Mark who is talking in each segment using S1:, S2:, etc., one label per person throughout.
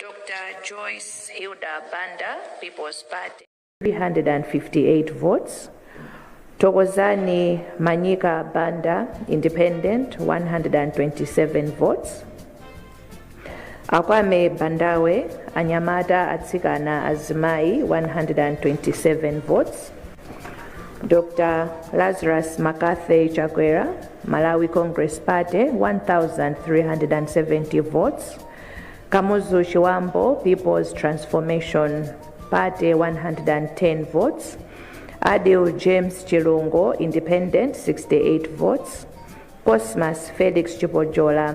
S1: Dr. Joyce Hilda Banda, People's Party. 358
S2: votes. Tokozani Manyika Banda, Independent, 127 votes. akwame bandawe anyamata atsikana azimayi 127 votes dr lazarus mccarthy chakwera malawi congress party 1370 votes kamuzu chiwambo people's transformation party 110 votes adil james chilungo independent 68 votes cosmas felix chipojola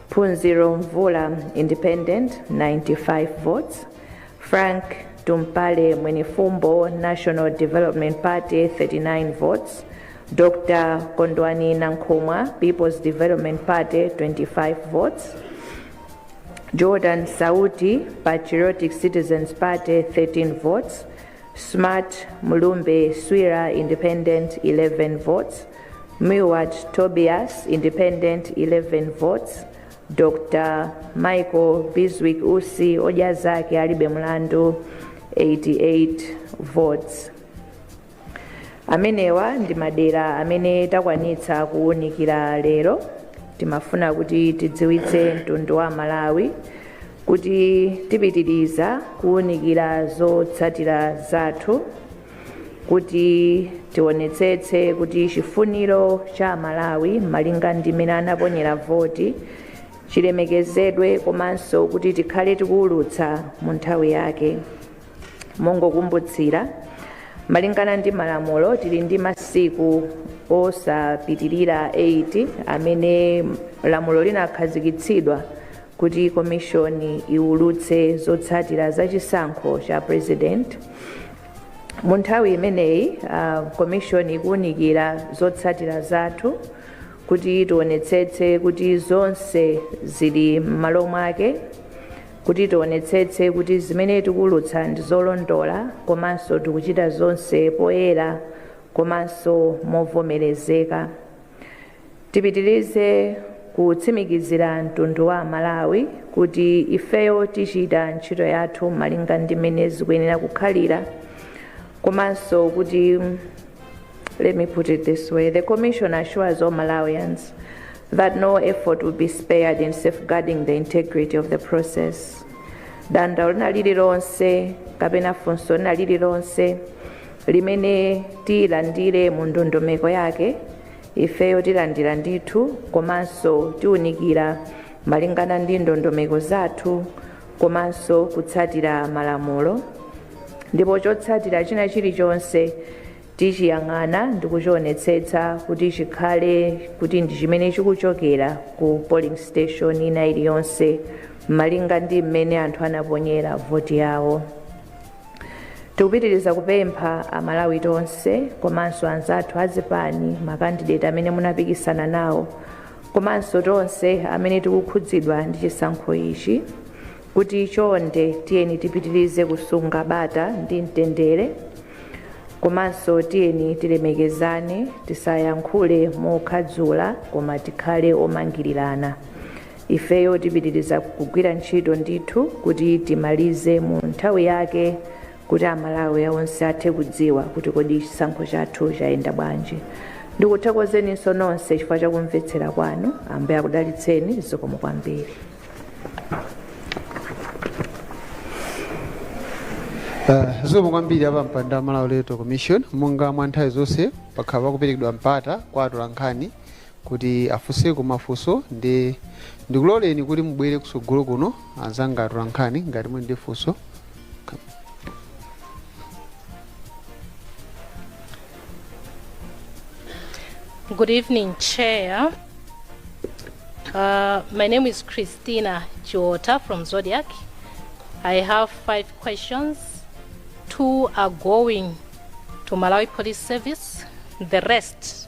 S2: Phunziro Mvula Independent 95 votes Frank Tumpale Mwenifumbo National Development Party 39 votes Dr Kondwani Nankhumwa People's Development Party 25 votes Jordan Sauti Patriotic Citizens Party 13 votes Smart Mulumbe Swira Independent 11 votes Milward Tobias, Independent, 11 votes, Dr. Michael Bizwick Usi, Odya Zake Alibe Mlandu, 88 votes. amenewa ndi madera amene takwanitsa kuwunikira lero timafuna kuti tidziwitse mtundu wa malawi kuti tipitiriza kuwunikira zotsatira zathu kuti tionetsetse kuti chifuniro cha amalawi malinga ndi mmene anaponyera voti chilemekezedwe komanso kuti tikhale tikuwulutsa mu nthawi yake mongokumbutsira malingana ndi malamulo tili ndi masiku osapitirira 8 amene lamulo linakhazikitsidwa kuti komishoni iwulutse zotsatira za chisankho cha president mu nthawi imeneyi ah, komishoni ikuwunikira zotsatira zathu kuti tionetsetse kuti zonse zili m'malo mwake kuti tionetsetse kuti zimene tikuwulutsa ndi zolondola komanso tikuchita zonse poyera komanso movomerezeka Tipitilize kutsimikizira mtundu wa amalawi kuti ifeyo tichita ntchito yathu malinga ndi mmene zikuyenera kukhalira komanso kuti let me put it this way the commission assures all malawians that no effort will be spared in safeguarding the integrity of the process dandaulo lina lililonse kapena funso lina lililonse limene tilandire mu ndondomeko yake ifeyo tilandira ndithu komanso tiunikira malingana ndi ndondomeko zathu komanso kutsatira malamulo ndipo chotsatira china chilichonse tichiyang'ana ndi kuchionetsetsa kuti chikhale kuti ndi chimene chikuchokera ku polling station ina iliyonse malinga ndi mmene anthu anaponyera voti yawo tikupitiriza kupempha amalawi tonse komanso anzathu azipani makandideti amene munapikisana nawo komanso tonse amene tikukhudzidwa ndi chisankho ichi kuti chonde tiyeni tipitirize kusunga bata ndi mtendere komanso tiyeni tilemekezane tisayankhule mokhadzula koma tikhale omangirirana Ifeyo tipitiriza kugwira ntchito ndithu kuti timalize mu nthawi yake kuti Amalawi onse athe kudziwa kuti kodi chisankho chathu chayenda bwanji. Ndikuthokozeninso nonse chifukwa cha kumvetsera kwanu. Ambuye akudalitseni. Zikomo
S3: kwambiri. Uh, zikomo kwambiri a pampando wa Malawi Electoral Commission monga mwa nthawi zonse pakhala pakuperekedwa mpata kwa atolankhani kuti afunseko mafunso nde ndikuloleni kuti mubwere kusogolo kuno anzanga atolankhani ngati muli ndi
S4: funso Good evening, Chair. Uh, my name is Christina Chiwota from Zodiac. I have five questions. Two are going to Malawi Police Service, the rest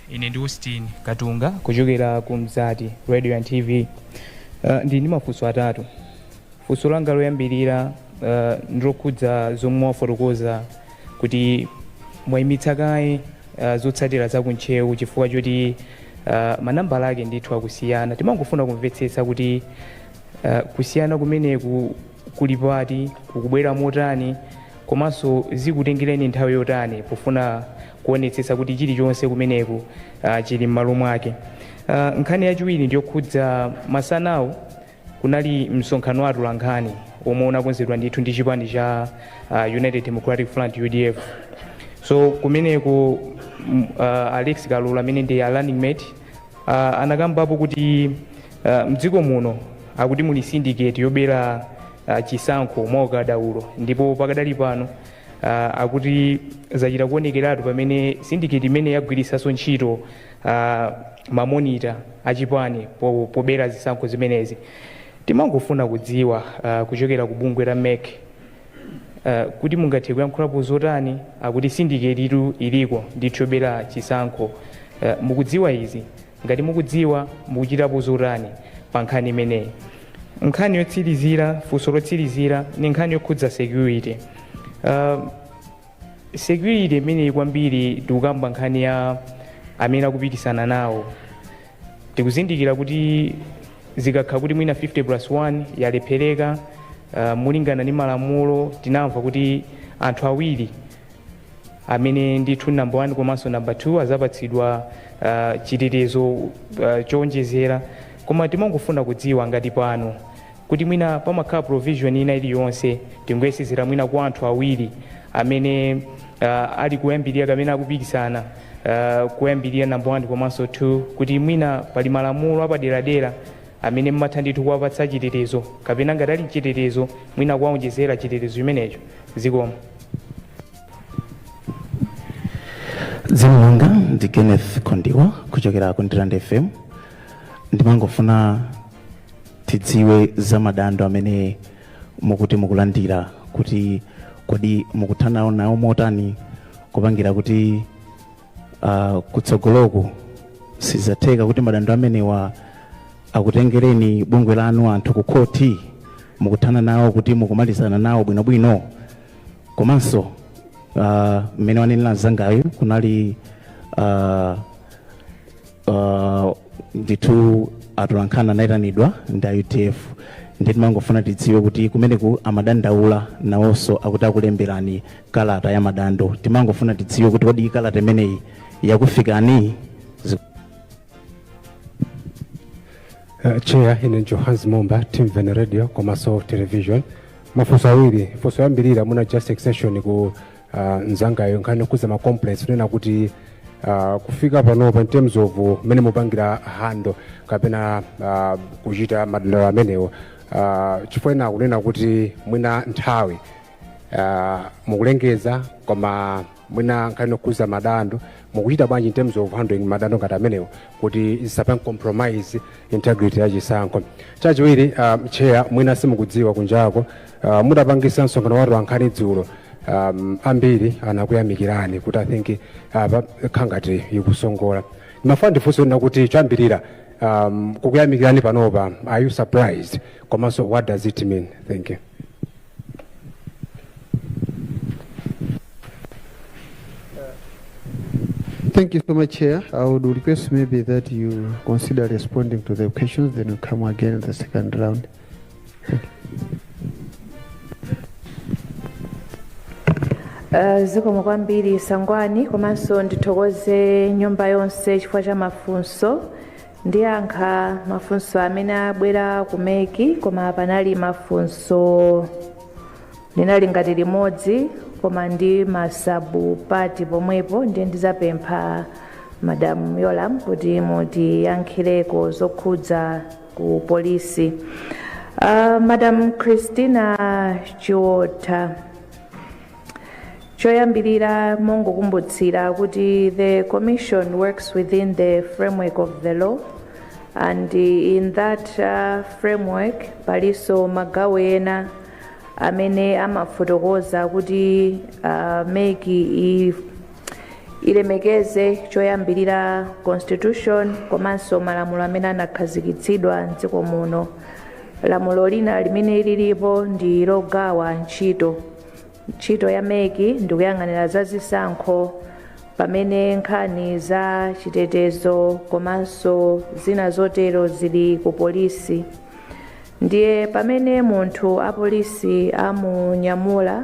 S5: Ine ndi Austin Katunga kuchokera ku Mzati Radio and TV. Uh, ndili ndi mafunso atatu. Funso langa loyambirira uh, ndilokhudza zomwe mwafotokoza kuti mwayimitsa kaye uh, zotsatira za ku Ntcheu chifukwa choti uh, manambala ake ndithu akusiyana. Timangofuna kumvetsetsa kuti uh, kusiyana kumeneku kuli pati, kukubwera motani, komanso zikutengereni nthawi yotani pofuna kuonetsetsa kuti chilichonse kumeneko chili m'malo mwake. Nkhani yachiwiri ndi yokhudza masanawu kunali msonkhano wa atolankhani womwe unakonzedwa ndithu ndi chipani cha United Democratic Front, udf. So kumeneko a Alex Kalolo amene ndi a running mate anakambapo kuti m'dziko muno akuti muli syndicate yobera chisankho mwaukadaulo ndipo pakadali pano uh, akuti zachita kuonekeratu pamene syndicate imeneyi yagwiritsanso ntchito uh, mamonita achipani po- pobera zisankho zimenezi timangofuna kudziwa uh, kuchokera ku bungwe la mec uh, kuti mungathe kuyankhulapo zotani akuti syndicate itu iliko ndithu yobera chisankho uh, mukudziwa izi Ngati mukudziwa, mukuchitapo zotani pa nkhani imeneyi? Nkhani yotsirizira, funso lotsirizira ndi nkhani yokhudza security. Uh, security imeneyi kwambiri tikukamba nkhani ya amene akupikisana nawo tikuzindikira kuti zikakhala kuti mwina 50 plus 1 yalephereka uh, molingana ndi malamulo tinamva kuti anthu awiri amene ndithu number 1 komanso number 2 azapatsidwa uh, chitetezo uh, chowonjezera koma timangofuna kudziwa ngati pano kuti mwina pamakhala provision ina iliyonse tingoyesezera mwina kwa anthu awiri amene uh, ali koyambirira kapena akupikisana uh, koyambirira number 1 komanso 2 kuti mwina pali malamulo apaderadera amene mumatha ndithu kuwapatsa chitetezo kapena ngati ali mchitetezo mwina kuwawonjezera chitetezo chimenecho zikomo
S6: dzina langa ndi kenneth kondiwa kuchokera ku ndirande fm ndimangofuna tidziwe za madando amene mukuti mukulandira kuti kodi mukuthana nawo motani kupangira kuti uh, kutsogoloku sizidzatheka kuti madando amenewa akutengereni bungwe lanu anthu ku khoti mukuthana nawo kuti mukumalizana nawo bwinobwino komanso uh, mmene wanenera mzangayu kunali uh, uh, ndithu atolankhani anayitanidwa ndi a UDF ndi timangofuna tidziwe kuti kumeneku amadandaula nawonso akuti akulemberani kalata ya madando timangofuna tidziwe kuti kodi kalata imeneyi yakufikani Zi-
S7: Uh, chair ine johannes momba Timveni radio komanso television mafunso awiri funso loyambirira mwina just extension ku uh, mzangayo nkhani yokhudza ma complaints kunena kuti uh, kufika panopa in terms of mmene mukupangira handle kapena uh, kuchita madandaulo amenewo uh, chifukwa ena kunena kuti mwina nthawi uh, mukulengeza koma mwina nkhani yokhudza madando mukuchita bwanji in terms of handling madando ngati amenewo kuti zisapange compromise integrity ya chisankho chachiwiri uh, chair mwina simukudziwa kunjako Uh, mutapangitsa msonkhano wa atolankhani dzulo um, ambiri anakuyamikirani kuti i think apa uh, nkhanga zikusongola ndimafuna ndifunse kunena kuti choyambirira um, kukuyamikirani panopa are you surprised komanso what does it mean thank you
S3: Thank you so much, Chair. I would request maybe that you consider responding to the questions, then we come again in the second round. Uh, zikomo
S2: kwambiri sangwani komanso ndithokoze nyumba yonse chifukwa cha mafunso ndiyankha mafunso amene abwera ku MEC koma panali mafunso linali ngati limodzi koma ndi ma sub part pomwepo ndiye ndizapempha madam Yolamu kuti mutiyankhireko zokhudza ku polisi uh, madam christina chiota choyambirira mongokumbutsira kuti the commission works within the framework of the law and in that uh, framework palinso magawo ena amene amafotokoza kuti uh, MEC ilemekeze choyambirira constitution komanso malamulo amene anakhazikitsidwa mdziko muno lamulo lina limene lilipo ndi logawa ntchito ntchito ya MEC ndi kuyang'anira za zisankho pamene nkhani za chitetezo komanso zina zotero zili ku polisi ndiye pamene munthu apolisi amunyamula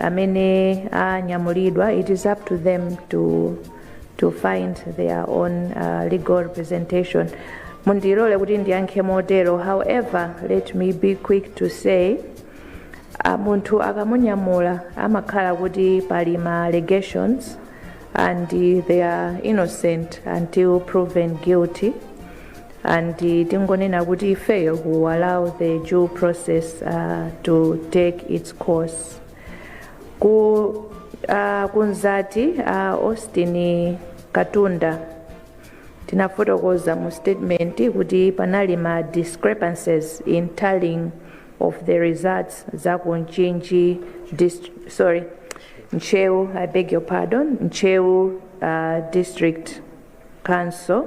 S2: amene anyamulidwa it is up to them to to find their own uh, legal representation mundilole kuti ndiyankhe motero however let me be quick to say uh, munthu akamunyamula amakhala kuti pali ma allegations and uh, they are innocent until proven guilty and tingonena kuti ifeyo will allow the due process uh, to take its course ku uh, kwa anzathu uh, austin katunda tinafotokoza mu statement kuti panali ma discrepancies in tallying of the results za ku mchinji dist- sorry ntcheu i beg your pardon ntcheu uh, district council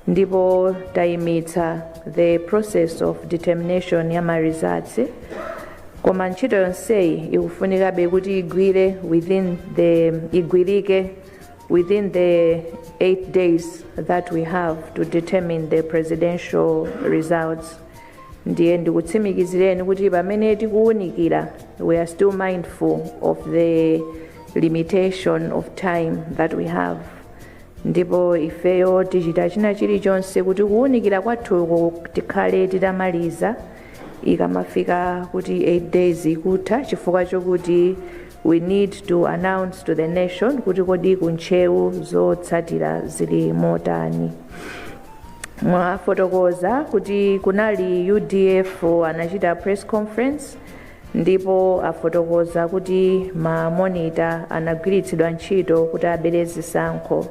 S2: ndipo tayimitsa the process of determination ya ma results koma ntchito yonseyi ikufunikabe kuti igwire within the igwirike within the 8 days that we have to determine the presidential results ndiye ndikutsimikizireni kuti pamene tikuwunikira we are still mindful of the limitation of time that we have ndipo ifeyo tichita china chilichonse kuti kuwunikira kwathuko tikhale titamaliza ikamafika kuti 8 days ikutha chifukwa chokuti we need to announce to the nation kuti kodi ku ntcheu zotsatira zili motani mwafotokoza kuti kunali udf anachita press conference ndipo afotokoza kuti ma monita anagwiritsidwa ntchito kuti abere zisankho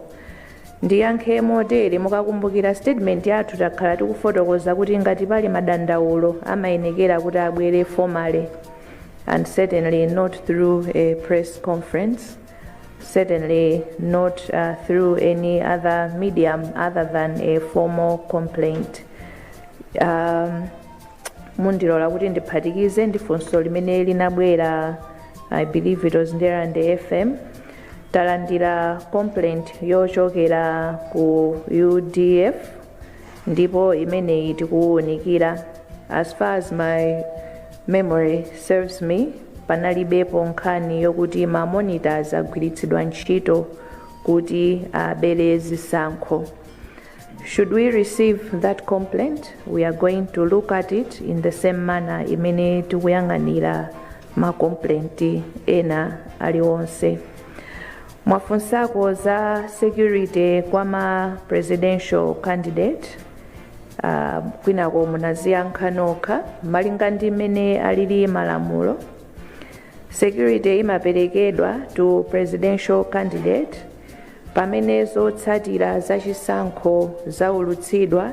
S2: ndiyankhe motere mukakumbukira statement yathu takhala tikufotokoza kuti ngati pali madandaulo amayenekera kuti abwere formally and certainly not through a press conference certainly not uh, through any other medium other than a formal complaint um, mundilola kuti ndiphatikize ndi funso limene linabwera i believe it was ndirande fm talandira complaint yochokera ku udf ndipo imeneyi tikuiwunikira as far as my memory serves me panalibepo nkhani yokuti ma monitors agwiritsidwa ntchito kuti abere zisankho Should we receive that complaint, we are going to look at it in the same manner imene tikuyang'anira ma complaint ena aliwonse. Mwafunsako za security kwa ma presidential candidate uh, kwinako munaziyankha nokha malinga ndi mmene alili malamulo. Security imaperekedwa to presidential candidate Pamene zotsatira za chisankho zaulutsidwa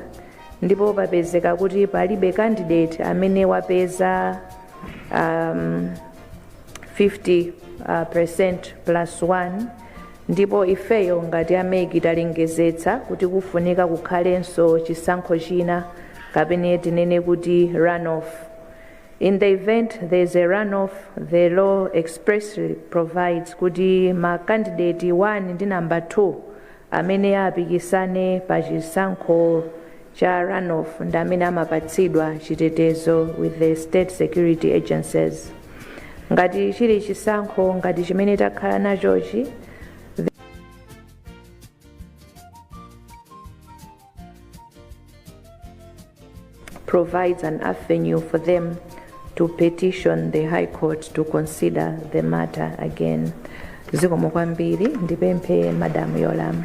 S2: ndipo papezeka kuti palibe candidate amene wapeza um, 50 uh, percent plus 1 ndipo ifeyo ngati a MEC talengezetsa kuti kufunika kukhalenso chisankho china kapena tinene kuti runoff In the event there is a runoff, the law expressly provides kuti ma candidate 1 ndi number 2 amene apikisane pa chisankho cha runoff ndi amene amapatsidwa chitetezo with the state security agencies. Ngati chili chisankho ngati chimene takhala nachochi, provides an avenue for them to petition the High Court to consider the matter again. Zikomo kwambiri ndipemphe Madam Yolam.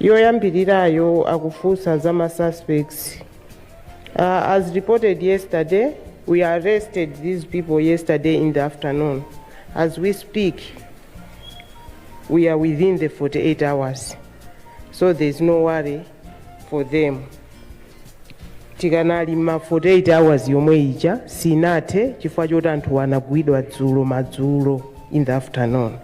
S8: yoyambirirayo akufunsa za ma suspects uh, as reported yesterday we arrested these people yesterday in the afternoon as we speak we are within the 48 hours so there is no worry for them tikanali mu 48 hours yomwe ija sinathe chifukwa choti anthu anagwidwa dzulo madzulo in the afternoon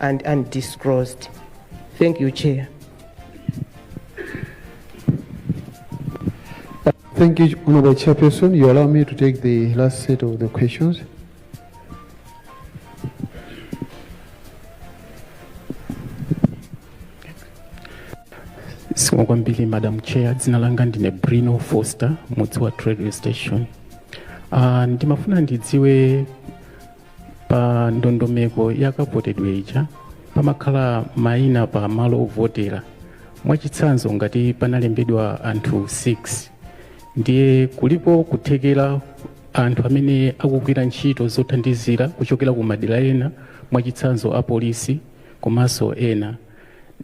S8: and undisclosed. Thank you, Chair.
S3: Thank you, Honorable Chairperson. You allow me to take the last set of the questions.
S6: Zikomo kwambiri Madam Chair, dzina langa ndine Bruno Foster, Mudzi Wathu Radio Station. Uh, ndimafuna ndidziwe pa ndondomeko ya kavotedwe ija pamakhala mayina pa malo ovotera mwachitsanzo ngati panalembedwa anthu 6 ndiye kulipo kuthekera anthu amene akugwira ntchito zothandizira kuchokera ku madera ena mwachitsanzo apolisi komanso ena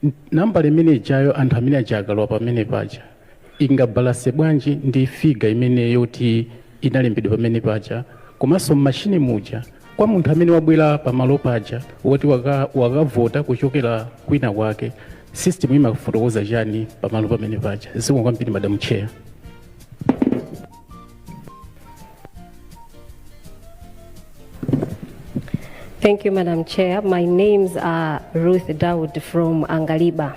S6: N- nambala imene ijayo anthu amene aja akalowa pamene paja ingabalanse bwanji ndi figa imene yoti inalembedwa pamene paja komanso mmashini muja kwa munthu amene wabwera pamalo paja woti waka- wakavota kuchokera kwina kwake system imafotokoza chani pamalo pamene paja zikomo kwambiri madam
S9: chair Thank you, Madam Chair. My names are Luntha Dawood from Angaliba.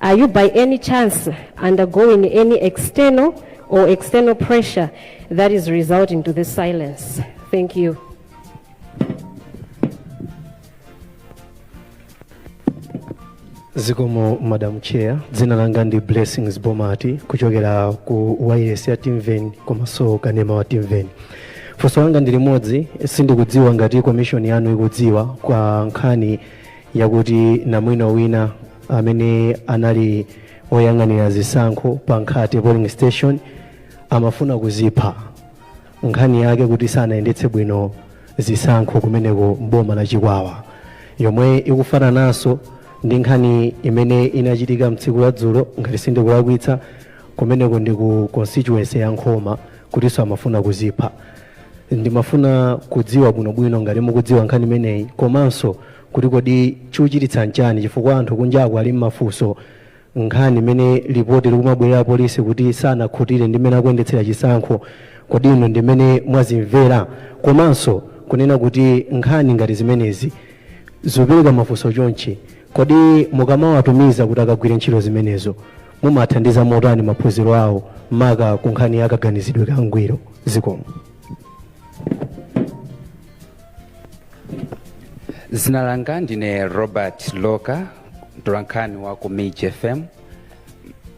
S9: Are you by any chance undergoing any internal or external pressure that is resulting to this silence? Thank you.
S10: zikomo madam chair dzina langa ndi blessings bomati kuchokera ku wayilesi ya Timveni komanso kanema wa Timveni funso langa ndi limodzi sindikudziwa ngati komishoni yanu ikudziwa za nkhani yakuti namwino wina amene anali oyang'anira zisankho pa nkhate polling station amafuna kuzipha nkhani yake kuti sanayendetse bwino zisankho kumeneko mboma la chikwawa yomwe ikufanananso ndi nkhani imene inachitika mtsiku la dzulo ngati sindikulakwitsa kumeneko ndi ku constituency ya nkhoma kutinso amafuna kuzipha Ndimafuna kudziwa bwinobwino ngati mukudziwa nkhani imeneyi komanso kuti kodi chuchititsa nchani chifukwa anthu kunjaku ali mmafunso nkhani imene lipoti likumabwera la apolisi kuti sanakhutire ndi mmene akuyendetsera chisankho kodi inu ndi mmene mwazimvera komanso kunena kuti nkhani ngati zimenezi zopereka mafunso chonchi kodi mukamawatumiza kuti akagwire ntchito zimenezo Mumathandiza motani maphunziro awo maka ku nkhani ya kaganizidwe kangwiro?
S11: Zikomo. Zina langa ndine Robert Loka, mtolankhani wa ku MIJ FM.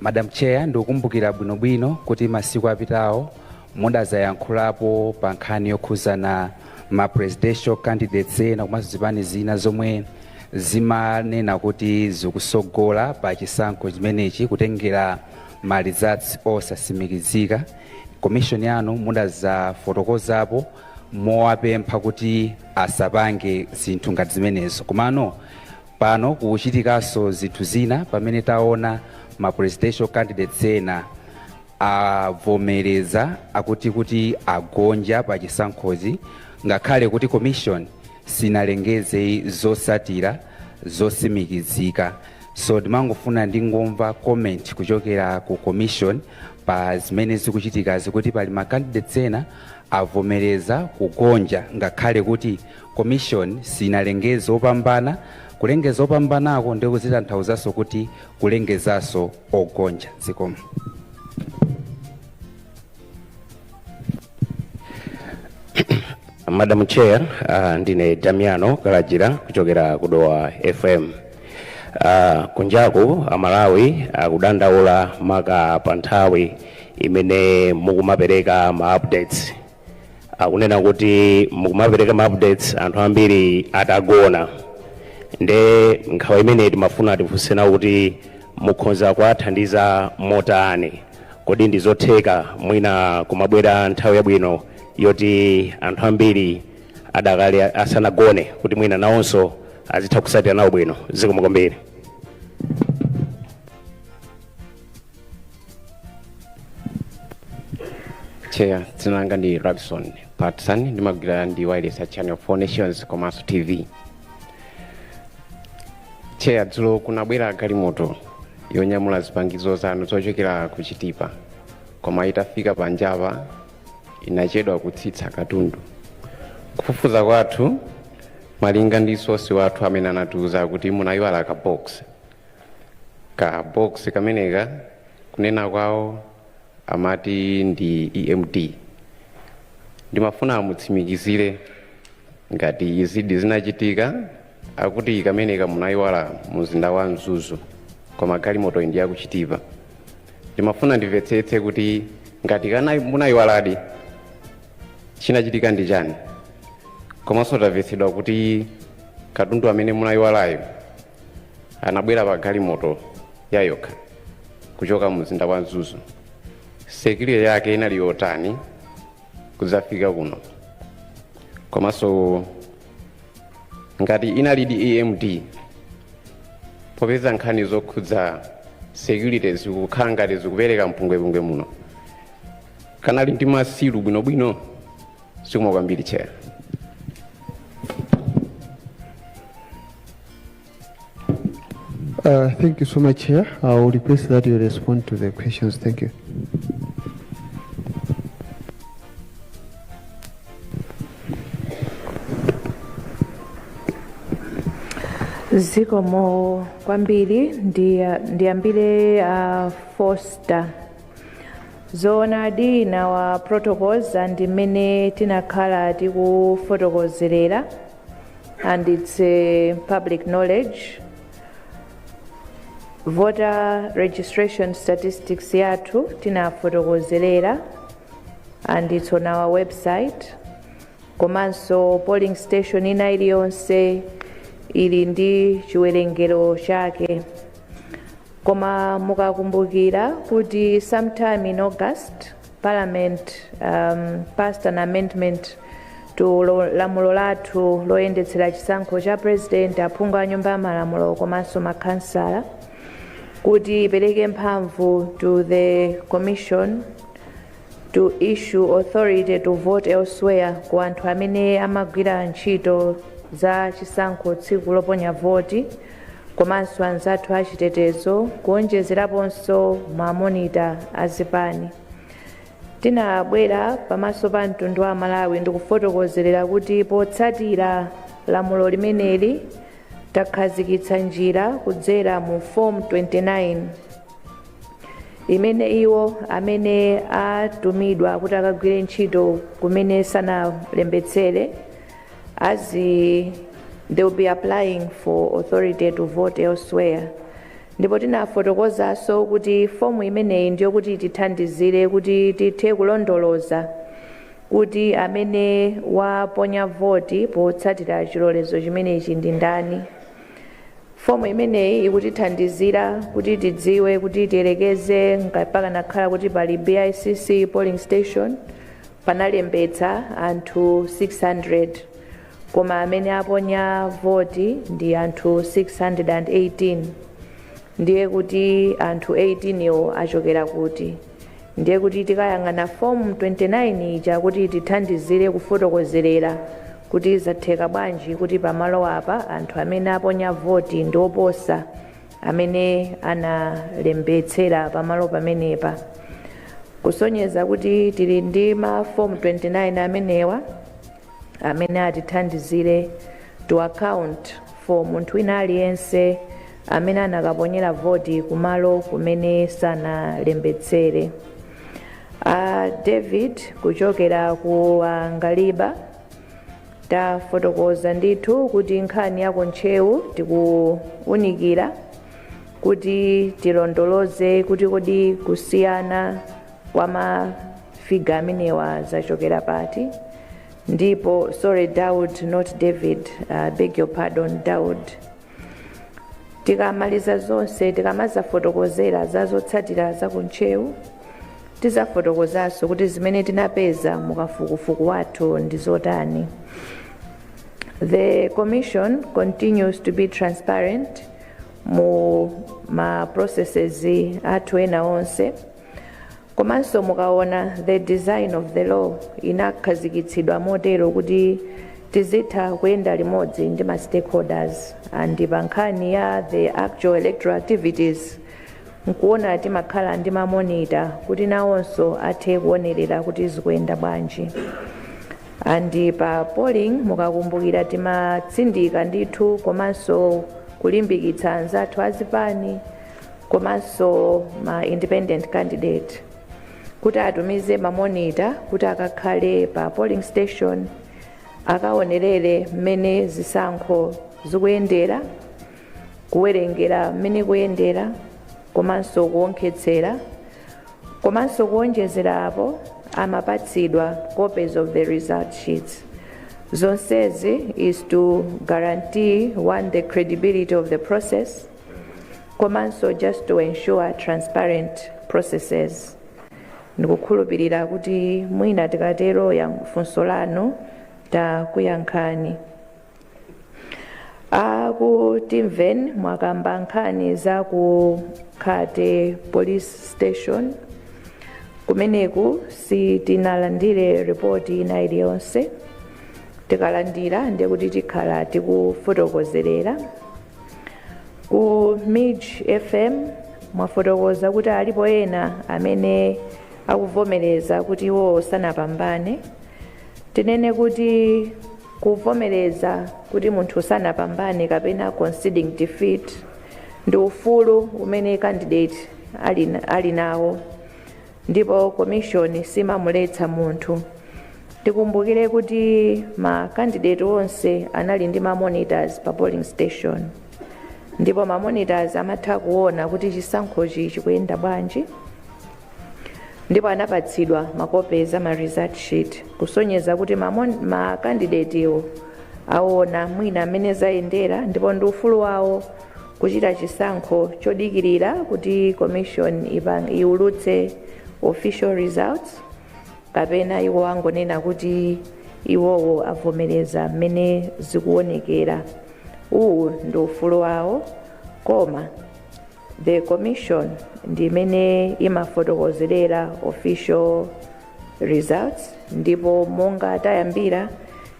S11: Madam Chair, ndikukumbukira bwinobwino kuti masiku apitawo Mudazayankhulapo pa nkhani yokhuzana ma presidential candidates ena komanso zipani zina zomwe zimanena kuti zikusogola pa chisankho chimenechi kutengera ma results osasimikizika. Commission yanu mudazafotokozapo mowapempha kuti asapange zinthu ngati zimenezo. Komano pano kukuchitikaso zinthu zina pamene taona ma presidential candidates ena. avomereza akuti kuti agonja pa chisankhozi ngakhale kuti commission sinalengeze zosatira zosimikizika so ndimangofuna ndingomva comment kuchokera ku commission pa zimene zikuchitikazi kuti pali ma candidates ena avomereza kugonja ngakhale kuti commission sinalengeze opambana kulengeza opambanako ndikuzitanthauzanso kuti kulengezaso ogonja
S12: zikomo madam chair uh, ndine damiano kalajira kuchokera ku dowa fm uh, kunjaku amalawi akudandaula maka pa nthawi imene mukumapereka ma updates akunena kuti mukumapereka ma updates anthu ambiri atagona nde nkhawa imeneyi timafuna tifunse nawo kuti mukhoza kuwathandiza motani kodi ndi zotheka mwina kumabwera nthawi yabwino yoti anthu ambiri adakali asanagone kuti mwina nawonso azitha kusatira nawo bwino zikomo kwambiri
S7: chair dzina langa ndi rabson patson ndimagwira ndi wayilesi ya channel for all nations komanso tv chair dzulo kunabwera galimoto yonyamula zipangizo zanu zochokera ku chitipa koma itafika panjapa inachedwa kutsitsa katundu kufufuza kwathu
S13: malinga ndi source wathu amene anatiuza kuti munayiwala ka box ka box kameneka kunena kwawo amati ndi emd ndimafuna a mutsimikizire ngati izidi zinachitika akuti kameneka munayiwala mu mzinda wa mzuzu koma galimotoyi ndi yakuchitipa ndimafuna ndimvetsetse kuti ngati kana munayiwaladi chinachitika ndi chani komanso tamvetsedwa kuti katundu amene munayiwalayo anabwera pa galimoto yayokha kuchoka mu mzinda wa mzuzu security yake inali yotani kudzafika kuno komanso ngati inalidi emd popeza nkhani zokhudza security zikukhala ngati zikupereka mpungwepungwe muno kanali ndi masilu bwinobwino zikomo kwambiri chair
S3: Uh, thank you so much, Chair. I will request that you respond to the questions. Thank
S2: you. zikomo kwambiri ndiya- ndiyambire uh, foster zoonadi in our protocols and mmene tinakhala tikufotokozerera and it's public knowledge voter registration statistics yathu tinafotokozerera and it's on our website komanso polling station ina iliyonse ili ndi chiwerengero chake koma mukakumbukira kuti sometime in august parliament um, passed an amendment to lo- lamulo lathu loyendetsera chisankho cha president aphungu a nyumba ya malamulo komanso makhansala kuti ipereke mphamvu to the commission to issue authority to vote elsewhere ku anthu amene amagwira ntchito za chisankho tsiku loponya voti komanso anzathu achitetezo kuonjezeraponso ma monitor a zipani tinabwera pamaso pa mtundu wa amalawi ndikufotokozerera kuti potsatira lamulo limeneli takhazikitsa njira kudzera mu form 29 imene iwo amene atumidwa kuti akagwire ntchito kumene sanalembetsere azi- they will be applying for authority to vote elsewhere ndipo tinafotokozanso kuti fomu imeneyi ndi yokuti itithandizire kuti tithe kulondoloza kuti amene waponya voti potsatira chilolezo chimenechi ndi ndani fomu imeneyi ikutithandizira kuti tidziwe kuti tiyerekeze pakanakhala kuti pali bicc polling station panalembetsa anthu 600 koma amene aponya voti ndi anthu 618 ndiye kuti anthu 18 wo achokera kuti ndiye kuti tikayang'ana fomu 29 ija kuti tithandizire kufotokozerera kuti zatheka bwanji kuti pamalo apa anthu amene aponya voti ndi oposa amene analembetsera pamalo pamenepa kusonyeza kuti tili ndi mafomu 29 amenewa amene atithandizire to account for munthu wina aliyense amene anakaponyera voti kumalo kumene sanalembetsere a david kuchokera ku angaliba tafotokoza ndithu kuti nkhani ya kuntcheu tikuunikira kuti tilondoloze kuti kodi kusiyana kwa mafiga amenewa zachokera pati ndipo sorry daud not david uh, beg your pardon daud tikamaliza zonse tikamazafotokozera za zotsatira za kuntcheu tizafotokozanso kuti zimene tinapeza mukafukufuku wathu ndi zotani the commission continues to be transparent mu ma processes athu ena onse Komanso mukaona the design of the law inakhazikitsidwa motero kuti tizitha kuyenda limodzi ndi ma stakeholders and pa nkhani ya the actual electoral activities nkuona timakhala ndi mamonita kuti nawonso athe kuonerera kuti zikuyenda bwanji and pa polling mukakumbukira timatsindika ndithu komanso kulimbikitsa anzathu azipani komanso ma independent candidate kuti atumize mamonita kuti akakhale pa polling station akaonerere mmene zisankho zikuyendera kuwerengera mmene kuyendera komanso kuonkhetsera komanso kuonjezera apo amapatsidwa copies of the result sheets zonsezi is to guarantee one the credibility of the process komanso just to ensure transparent processes ndikukhulupirira kuti mwina tikatero yang- funso lanu takuyankhani a ku timveni mwakamba nkhani za ku khate police station kumeneku sitinalandire ripoti ina iliyonse tikalandira ndekuti tikhala tikufotokozerera ku mij fm mwafotokoza kuti alipo ena amene akuvomereza kuti iwowo sanapambane tinene kuti kuvomereza kuti munthu sanapambane kapena conceding defeat ndi ufulu umene candidate ali nawo Ndipo commission simamuletsa munthu. Tikumbukire kuti ma candidate onse anali ndi ma monitors pa polling station. Ndipo ma monitors amatha kuona kuti chisankhochi chikuyenda bwanji. Ndipo anapatsidwa ma copies a ma result sheet kusonyeza kuti ma candidate wo aona mwina mmene zayendera ndipo ndi ufulu wawo Kuchita chisankho chodikirira kuti commission iulutse official results kapena iwo angonena kuti iwowo avomereza mmene zikuonekera uwu ndi ufulu wawo koma the commission ndi imene imafotokozerera official results ndipo monga tayambira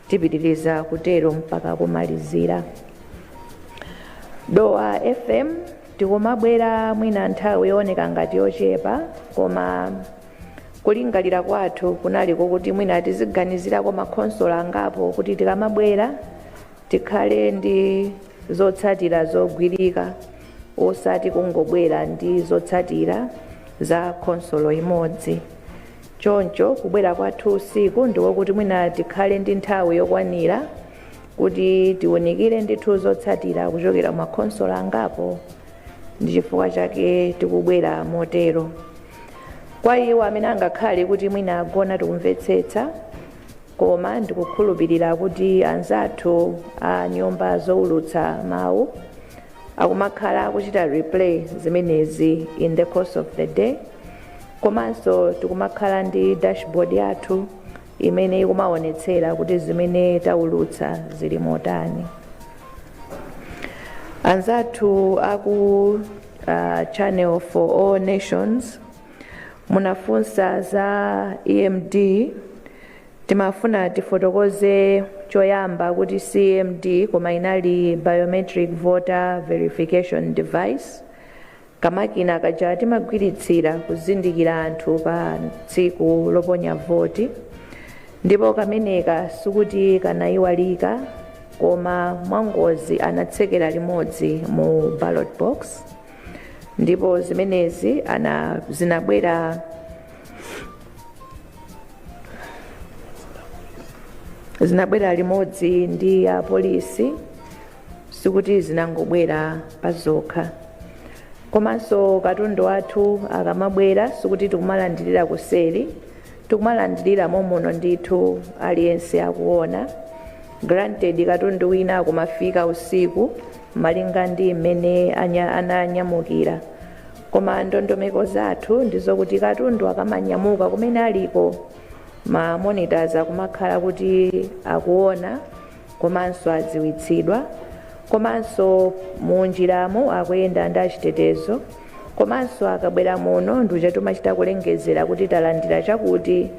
S2: tipitiriza kutero mpaka kumalizira. dowa fm tikumabwera mwina nthawi yooneka ngati yochepa koma kulingalira kwathu kunali kokuti mwina tiziganizirako makhonsolo angapo kuti tikamabwera tikhale ndi zotsatira zogwirika osati kungobwera ndi zotsatira za khonsolo imodzi choncho kubwera kwathu usiku ndikokuti mwina tikhale ndi nthawi yokwanira kuti tiunikire ndithu zotsatira kuchokera ku makhonsolo angapo ndi chifukwa chake tikubwera motero kwa iwo amene angakhale kuti mwina agona tikumvetsetsa koma ndikukhulupirira kuti anzathu a nyumba zoulutsa mawu akumakhala kuchita replay zimenezi in the course of the day komanso tikumakhala ndi dashboard yathu imene ikumaonetsera kuti zimene taulutsa zili motani anzathu aku uh, channel for all nations munafunsa za emd timafuna tifotokoze choyamba kuti si emd koma inali biometric voter verification device Kamakina kaja timagwiritsira kuzindikira anthu pa tsiku loponya voti ndipo kameneka sikuti kanaiwalika koma mwangozi anatsekera limodzi mu ballot box ndipo zimenezi ana zinabwera zinabwera limodzi ndi apolisi sikuti zinangobwera pazokha komanso katundu wathu akamabwera sikuti tikumalandirira kuseri tikumalandirira momuno ndithu aliyense akuona granted katundu wina akumafika usiku malinga ndi mmene anya- ananyamukira koma ndondomeko zathu ndizokuti katundu akamanyamuka kumene aliko ma monitors akumakhala kuti akuona komanso adziwitsidwa komanso munjiramo akuyenda ndi achitetezo komanso akabwera muno ndikuja timachita kulengezera kuti talandira chakuti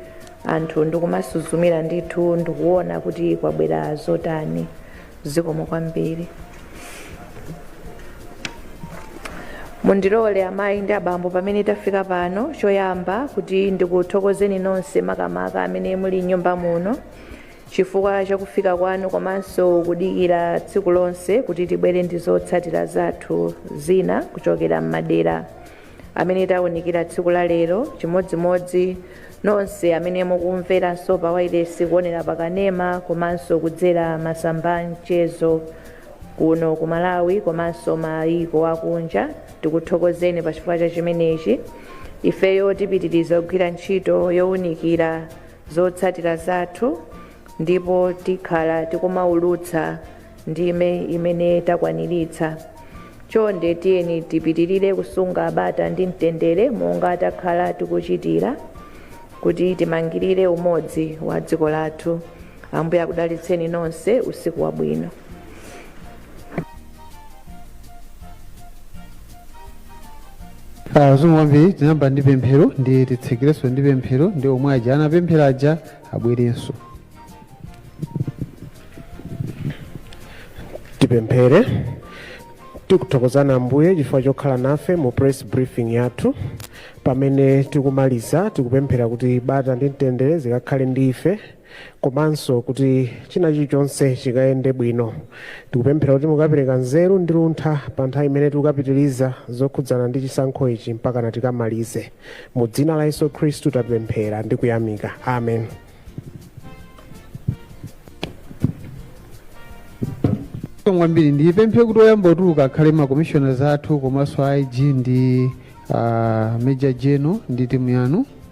S2: anthu ndikumasuzumira ndithu ndikuona kuti kwabwera zotani zikomo kwambiri mundilole amayi ndi abambo pamene tafika pano choyamba kuti ndikuthokozeni nonse makamaka amene muli m'nyumba muno chifukwa cha kufika kwanu komanso kudikira tsiku lonse kuti tibwere ndi zotsatira zathu zina kuchokera m'madera amene taunikira tsiku la lero chimodzimodzi nonse amene mukumveranso pa wailesi kuonera pa kanema komanso kudzera masamba a mchezo kuno ku malawi komanso mayiko akunja tikuthokozeni pa chifukwa cha chimenechi ifeyo tipitiriza kugwira ntchito yowunikira zotsatira zathu ndipo tikhala tikumaulutsa ndime imene takwaniritsa chonde tiyeni tipitirire kusunga bata ndi mtendere monga takhala tikuchitira kuti timangirire umodzi wa dziko lathu ambuye akudalitseni nonse usiku wabwino
S3: Ah, zikomo kwambiri tinayamba ndi pemphero ndi titsekerenso ndi pemphero ndi omwe aja anapemphera aja abwerenso
S14: tipemphere tikuthokozani ambuye chifukwa chokhala nafe mu press briefing yathu pamene tikumaliza tikupemphera kuti bata ndi mtendere zikakhale ndi ife komanso kuti china chilichonse chikayende bwino tikupemphera kuti mukapereka nzeru ndi luntha pa nthawi imene tikapitiriza zokhudzana ndi chisankho ichi mpakana tikamalize mu dzina la yesu khristu tapemphera ndi kuyamika
S3: amen Zikomo kwambiri ndipemphe kuti oyamba kutuluka akhale makomishoners athu komanso a ig ndi uh, major general ndi timu yanu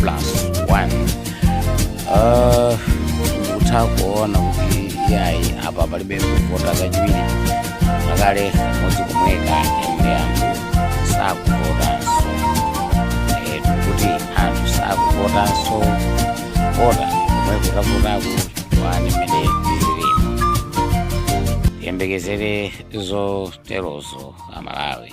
S15: plus one nkutha kuona kuti yayi apa palibe kuvota kachiwiri pakale kamodzi komweka ende anthu sakuvotanso Eh, kuti anthu sakuvotanso vota komwe titavoteko wani mene ililima tiyembekezere zoterozo amalawi